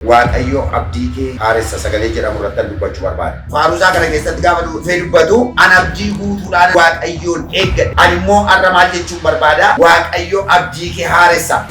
Waaqayyo abdii kee haaressa sagalee jedhamu irrattan dubbachuu barbaada. Faaruu isaa kana keessatti gaafa dhufee dubbatu, An abdii guutuudhaan Waaqayyoon eeggadhe. Ani immoo har'a maal jechuun barbaada? Waaqayyo abdii kee haaressa.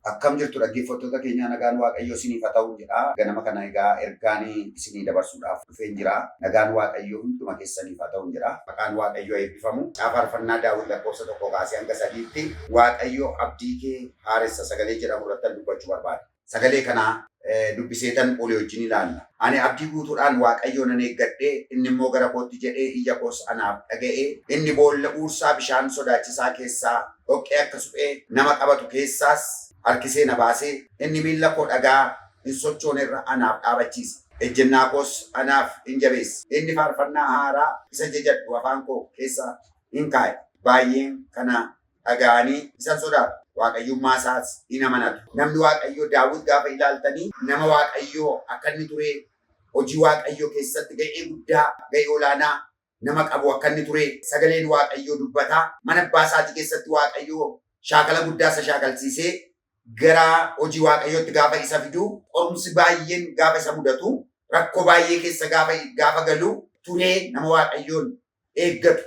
Akkam jirtu dhaggeeffattoota keenyaa nagaan Waaqayyoo isiniif haa ta'u jedha. Ganama kana egaa ergaan isinii dabarsuudhaaf dhufeen jira. Nagaan Waaqayyoo hunduma keessaniif haa ta'u jedha. Maqaan Waaqayyoo eebbifamu. Caafa faarfannaa Daawit lakkoofsa tokko kaasee hanga sadiitti Waaqayyoo abdii kee haaressa sagalee jedhamu irratti dubbachuu barbaada. Sagalee kana dubbiseetan olii wajjin ilaalla. Ani abdii guutuudhaan Waaqayyoo nan eeggadhe, inni immoo gara kootti jedhee iyya koos anaaf dhaga'e. Inni boolla huursaa bishaan sodaachisaa keessaa, dhoqqee akka suphee nama qabatu keessaas harkisee na baase. Inni miilla koo dhagaa hin sochoone irra anaaf dhaabachiise, ejjennaa koos anaaf in jabeesse. Inni faarfannaa haaraa isa jajadhu afaan koo keessa in kaa'e, baay'een kana dhaga'anii isa sodaatu, Waaqayyummaa isaas in amanatu. Namni Waaqayyoo Daawit gaafa ilaaltanii nama Waaqayyoo akka inni turee, hojii Waaqayyoo keessatti ga'ee guddaa, ga'ee olaanaa nama qabu akka inni turee sagaleen Waaqayyoo dubbataa. Mana abbaa isaatii keessatti Waaqayyoo shaakala guddaa isa shaakalsiisee gara hojii Waaqayyootti gaafa isa fidu, qorumsi baay'een gaafa isa mudatu, rakkoo baay'ee keessa gaafa, gaafa galu turee nama Waaqayyoon eeggatu,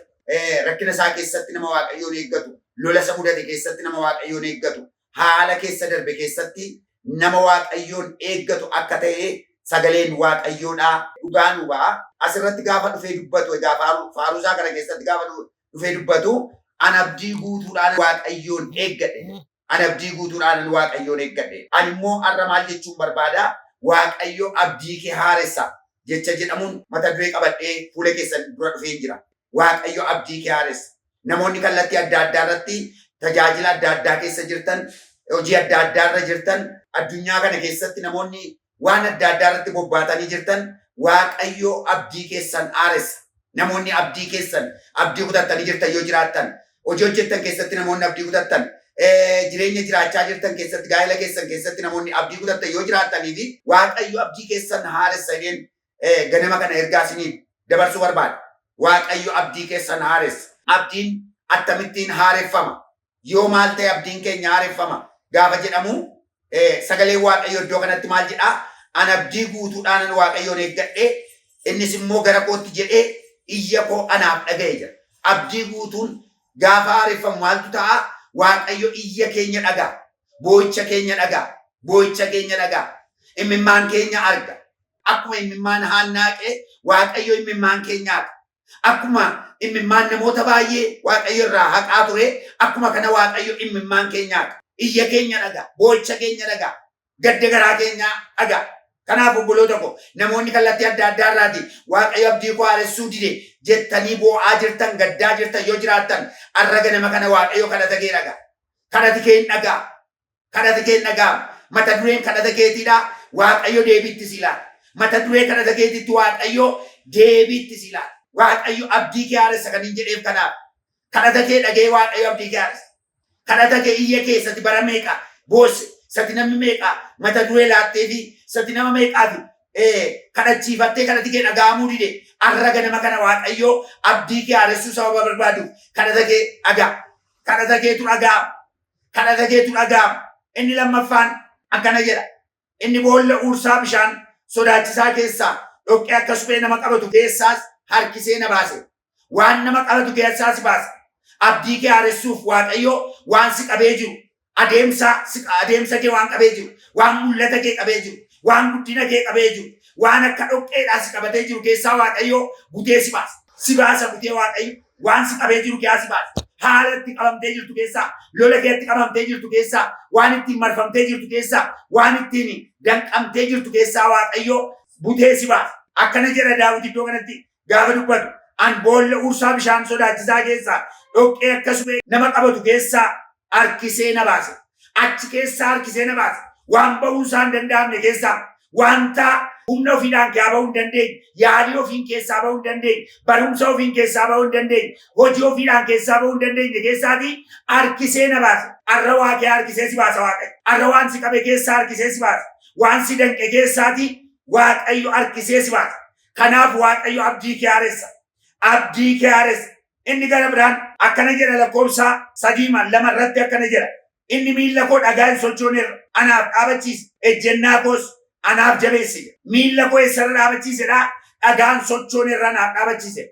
rakkina isaa keessatti nama Waaqayyoon eeggatu, lola isa mudate keessatti nama Waaqayyoon eeggatu, haala keessa darbe keessatti nama Waaqayyoon eeggatu akka ta'e sagaleen Waaqayyoodhaa dhugaa nu ba'a. Asirratti gaafa dhufee dubbatu egaa faaruu faaruu isaa kana keessatti gaafa dhufee dubbatu an abdii guutuudhaan Waaqayyoon eeggadhe jedha. Ani abdii guutuudhaanan Waaqayyoon eeggadhe. Ani immoo har'a maal jechuun barbaada? Waaqayyo abdii kee haaressa jecha jedhamuun mata duree qabadhee fuula keessan dura dhufeen jira. Waaqayyo abdii kee haaressa. Namoonni kallattii adda addaa irratti tajaajila adda addaa keessa jirtan, hojii adda addaa irra jirtan, addunyaa kana keessatti namoonni waan adda addaa irratti bobbaatanii jirtan Waaqayyo abdii keessan haaressa. Namoonni abdii keessan abdii kutattanii jirtan yoo jiraattan, hojii hojjettan keessatti namoonni abdii kutattan, jireenya jiraachaa jirtan keessatti, gaa'ela keessan keessatti namoonni abdii kutattan yoo jiraatanii fi Waaqayyo abdii keessan haaressa jedheen eh, ganama kana ergaa isiniif dabarsuu barbaada. Waaqayyo abdii keessan haaressa. Abdiin attamittiin haareffama? Yoo maal ta'e abdiin keenya haareffama? Gaafa jedhamu eh, sagaleen Waaqayyo iddoo kanatti maal jedhaa? An abdii guutuudhaanan Waaqayyoon eeggadhee innis immoo gara kootti jedhee iyya koo anaaf dhaga'e jedha. Abdii guutuun gaafa haareffamu maaltu ta'a? Waaqayyo iyya keenya dhaga'a. Boo'icha keenya dhaga'a. Boo'icha keenya dhaga'a. Imimmaan keenya arga. Akkuma immimmaan Haannaaqe Waaqayyo immimmaan kee nyaata. Akkuma immimmaan namoota baay'ee Waaqayyo irraa haqaa ture, akkuma kana Waaqayyo immimmaan kee nyaata. Iyya keenya dhaga'a, boo'icha keenya dhaga'a, gadda garaa keenyaa dhaga'a. Kanaaf obboloota ko, namoonni kallattii adda addaa irraatii Waaqayyo abdii koo haaressuu dide jettanii boo'aa jirtan, gaddaa jirtan yoo jiraattan, har'a ganama kana Waaqayyo kadhata kee dhaga'a. Kadhati kee hin dhaga'ama. Kadhati kee hin dhaga'amu. Mata dureen kadhata keetii dha, Waaqayyo deebii itti sii laata. Mata duree kadhata keetiitti Waaqayyo deebii itti sii laata. Waaqayyo abdii kee haaressa kanin jedheef kanaaf. Kadhata kee dhaga'ee Waaqayyo abdii kee haaressa. Kadhata kee iyya kee sati bara meeqa boosse, sati namni meeqa mata duree laattee fi sati nama meeqaati ee, kadhachiifattee kadhati kee dhaga'amuu dide arra ganama kana Waaqayyo abdii kee haaressuu sababa barbaaduuf kadhata kee dhaga'a. Kadhata keetu dhaga'ama. kadhata keetu dhaga'ama. Inni lammaffaan akkana jedha. Inni boolla uursaa bishaan sodaachisaa keessaa dhoqqee akka suphee nama qabatu keessaas harkisee na baase. Waan nama qabatu keessaa si baase. Abdii kee haaressuuf Waaqayyo waan si qabee jiru, adeemsa, si- adeemsa kee waan qabee jiru, waan mul'ata kee qabee jiru, waan guddina kee qabee jiru, waan akka dhoqqeedhaa si qabatee jiru keessaa Waaqayyo butee si baasa. Si baasa butee Waaqayyo. Waan si qabee jiru keessaa si baasa. Haala itti qabamtee jirtu keessaa, lola kee itti qabamtee jirtu keessaa, waan ittiin marfamtee jirtu keessaa, waan ittiin danqamtee jirtu keessaa Waaqayyo butee si baasa. Akkana jedha Daawit iddoo kanatti gaafa dubbatu. An boolla ursaa bishaan sodaachisaa keessaa, dhoqqee akka suphee nama qabatu keessaa harkisee na baase. Achi keessaa harkisee na baase. Waan ba'uu isaa hin danda'amne keessaa wanta humna ofiidhaan kaa ba'uu hin dandeenye, yaalii ofiin keessaa ba'uu hin dandeenye, barumsa ofiin keessaa ba'uu hin dandeenye, hojii ofiidhaan keessaa ba'uu hin dandeenye keessaatii harkisee na baase. Arra waa kee harkisee si baasa Waaqayyo. Arra waan si qabe keessaa harkisee si baasa. Waan si danqe keessaatii Waaqayyo harkisee si baasa. Kanaaf Waaqayyo abdii kee haaressa. Abdii kee haaressa. Inni gara biraan akkana jedha lakkoofsa 3 ma 2 irratti akkana jedha inni miilla koo dhagaa hin sochoone irra anaaf dhaabachiise ejjennaa koos anaaf jabeesse jedha. Miilla koo eessarra dhaabachiise dhaa? Dhagaan sochoone irra anaaf dhaabachiise.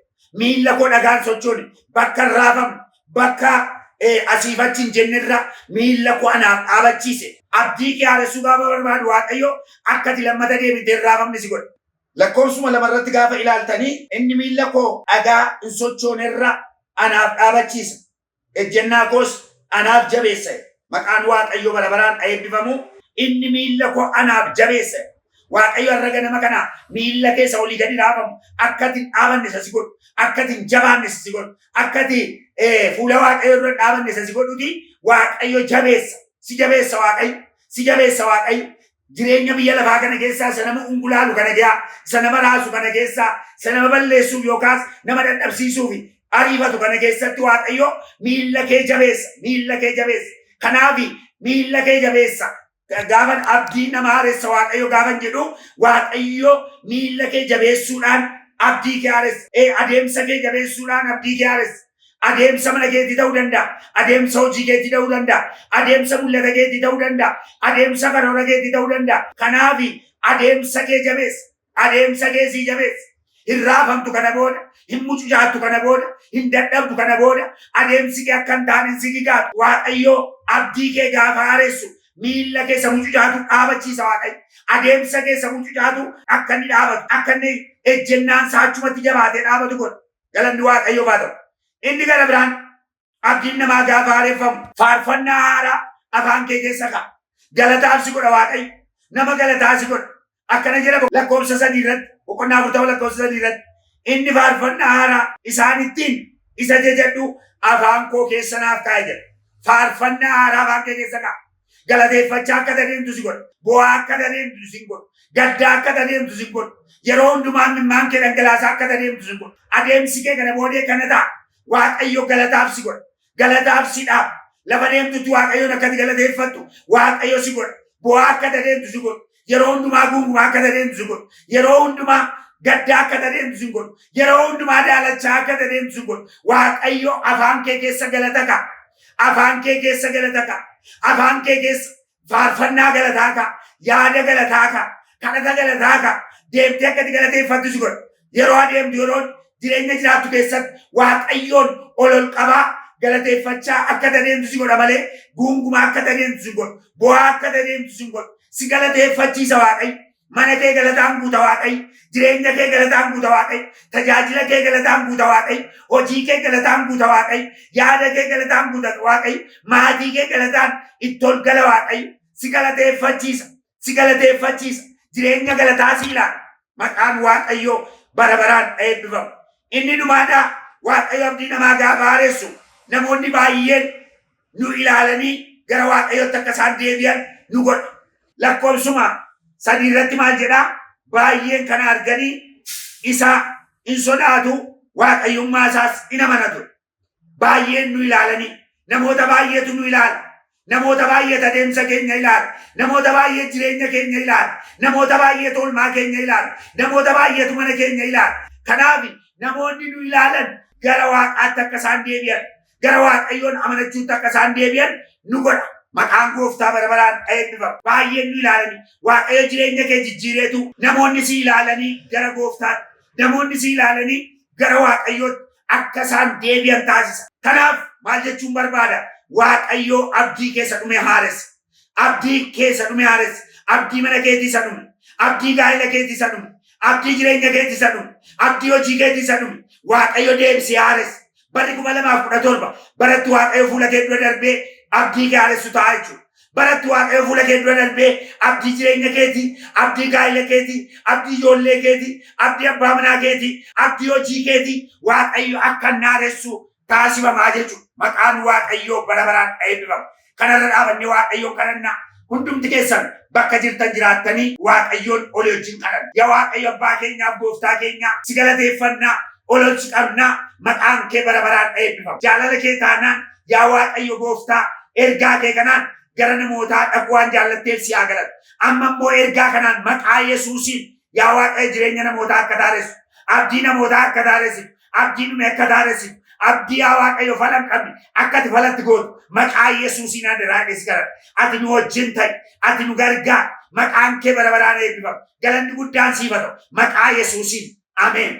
Miilla koo dhagaan sochoone bakka hin raafamne bakka eh, asiif achi hin jenne irra miilla koo anaaf dhaabachiise. Abdii kee haaressuu gaafa barbaadu Waaqayyo akka ati lammata deebitee hin raafamne si godha. Lakkoofsuma lama irratti gaafa ilaaltanii inni miilla koo dhagaa hin sochoone irra anaaf dhaabachiisa, ejjennaa koos anaaf jabeessa jedha. Maqaan Waaqayyoo bara baraan ha eebbifamu. Inni miilla koo anaaf jabeessa jedha. Waaqayyo har'a ganama kana miilla kee isa olii gadi dhaabamu akka ati hin dhaabanne isa si godhu, akka ati hin jabaanne isa si godhu, akka ati eh, fuula Waaqayyoo dura hin dhaabanne isa si godhuti Waaqayyo jabeessa, si jabeessa Waaqayyo, si jabeessa Waaqayyo. Jireenya biyya lafaa kana keessaa isa nama ungulaalu kana ge'aa, isa nama raasu kana keessaa, isa nama balleessuuf yookaas nama dadhabsiisuuf ariifatu kana keessatti Waaqayyo miilla kee jabeessa, miilla kee jabeessa. Kanaaf miilla kee jabeessa. Gaafan abdii nama haaressa Waaqayyo gaafan jedhu Waaqayyo miilla kee jabeessuudhaan abdii kee haaressa. Ee adeemsa kee jabeessuudhaan abdii kee haaressa. Adeemsa mana keetii ta'uu danda'a. Adeemsa hojii keetii ta'uu danda'a. Adeemsa mul'ata keetii ta'uu danda'a. Adeemsa karoora keetii ta'uu danda'a. Kanaaf adeemsa kee jabeessa. Adeemsa kee sii jabeessa. Hin raafamtu kana booda. Hin mucucaattu kana booda. Hin dadhabdu kana booda. Adeemsi kee akka hin taane hin si gigaatu. Waaqayyo abdii kee gaafa haaressu miilla kee isa mucucaatu dhaabachiisa Waaqayyo. Adeemsa kee isa mucucaatu akka inni dhaabatu, akka inni ejjennaan isaa achumatti jabaatee dhaabatu godha. Galanni Waaqayyoof haa ta'u. Inni gara biraan abdiin namaa gaafa haareffamu. Faarfannaa haaraa afaan kee keessa ka'a. Galataaf si godha Waaqayyo. Nama galataa si godha. Akkana jedha bo- lakkoofsa sadii irratti boqonnaa afurtama lakkoofsa sadii irratti inni faarfannaa haaraa isaan ittiin isa jajadhu afaan koo keessa naaf kaa'e jedha. Faarfannaa haaraa afaan kee keessa ka'a. Galateeffachaa akka adeemtu si godha. Boo'aa akka adeemtu si godha. Gaddaa akka adeemtu si godha. Yeroo hundumaa imimmaan kee dhangalaasaa akka adeemtu si godha. Adeemsi kee kana boodee kana ta'a. Waaqayyo galataaf si godha. Galataaf si dhaaba. Lafa deemtutti Waaqayyoon akka ati galateeffattu Waaqayyo si godha. Boo'aa akka adeemtu si godha. Yeroo hundumaa guungumaa akka adeemtu sin godhu. Yeroo hundumaa gaddaa akka adeemtu sin godhu. Yeroo hundumaa daalachaa akka adeemtu sin godhu. Waaqayyo afaan kee keessa galata ka'a. Afaan kee keessa galata ka'a. Afaan kee keessa faarfannaa galataa ka'a. Yaada galataa ka'a. Kadhata galataa ka'a. Deemtee akka itti galateeffattu si godha. Yeroo adeemtu yeroon jireenya jiraattu keessatti Waaqayyoon ol ol qabaa galateeffachaa akka adeemtu si godha malee guungumaa akka adeemtu si godha. Bo'aa akka adeemtu si godha. Si galateeffachiisa Waaqayyo. Mana kee galataan guuta Waaqayyo. Jireenya kee galataan guuta Waaqayyo. Tajaajila kee galataan guuta Waaqayyo. Hojii kee galataan guuta Waaqayyo. Yaada kee galataan guuta Waaqayyo. Maatii kee galataan itti ol gala Waaqayyo. Si galateeffachiisa. si galateeffachiisa. Jireenya galataa si ilaala. Maqaan Waaqayyoo bara baraan eebbifamu. Inni dhumaadhaa Waaqayyo abdii namaa gaafa haaressu namoonni baay'een nu ilaalanii gara Waaqayyootti akka isaan deebi'an nu godha. Lakkoofsuma sadii irratti maal jedhaa? Baay'een kana arganii isaa in sodaatu, Waaqayyummaa isaas in amanatu. Baay'een nu ilaalanii namoota baay'eetu nu ilaala. Namoota baay'eet adeemsa keenya ilaala. Namoota baay'eet jireenya keenya ilaala. Namoota baay'eet oolmaa keenya ilaala. Namoota baay'eetu mana keenya ilaala. Kanaaf namoonni nu ilaalan gara waaqaatti akka isaan deebi'an, gara Waaqayyoon amanachuutti akka isaan deebi'an nu godha. Maqaan gooftaa bara baraan eebbifamu. Baay'een nu ilaalanii Waaqayyo jireenya kee jijjiireetu namoonni si ilaalanii gara gooftaatti, Namoonni si ilaalanii gara Waaqayyootti akka isaan deebi'an taasisa. Kanaaf maal jechuun barbaada? Waaqayyo abdii kee isa dhume haaressa. Abdii kee isa dhume haaressa. Abdii mana keetii isa dhume. Abdii gaa'ela keetii isa dhume. Abdii jireenya keetii isa dhume. Abdii hojii keetii isa dhume. Waaqayyo deebisee haaressa. Barri kuma lamaa fi kudha torba baratti waaqayyo fuula kee dura darbee abdii kee haaressu ta'a jechuudha. Baratti waaqayyo fuula kee dura darbee abdii jireenya keetii, abdii gaa'ila keetii, abdii ijoollee keetii, abdii abbaa manaa keetii, abdii hojii keetii waaqayyo akka inni haaressu taasifamaa jechuudha. Maqaan waaqayyoo bara baraan eebbifamu. Kanarra dhaabannee Waaqayyoon kadhannaa. Hundumti keessan bakka jirtan jiraattanii Waaqayyoon olii wajjin kadhanna. Yaa Waaqayyo Abbaa keenyaaf Gooftaa keenyaa si galateeffannaa, ol ol si qabnaa, maqaan kee bara baraan dha eebbifamu. Jaalala kee taanaan yaa Waaqayyo Gooftaa ergaa kee kanaan gara namootaa dhaquu waan jaallatteef si haa galatu. Amma immoo ergaa kanaan maqaa Yesuusiin yaa Waaqayyo jireenya namootaa akka taaressu, abdii namootaa akka taaressitu, Abdii dhume akka daaressitu, abdii yaa Waaqayyo fala hin qabne akka ati falatti gootu maqaa Yesuusiin adaraa jedhee si kadhadha. Ati nu wajjin ta'i, ati nu gargaar, maqaan kee bara baraan eebbifamu. Galanni guddaan siif haa ta'u, maqaa Yesuusiin. Ameen.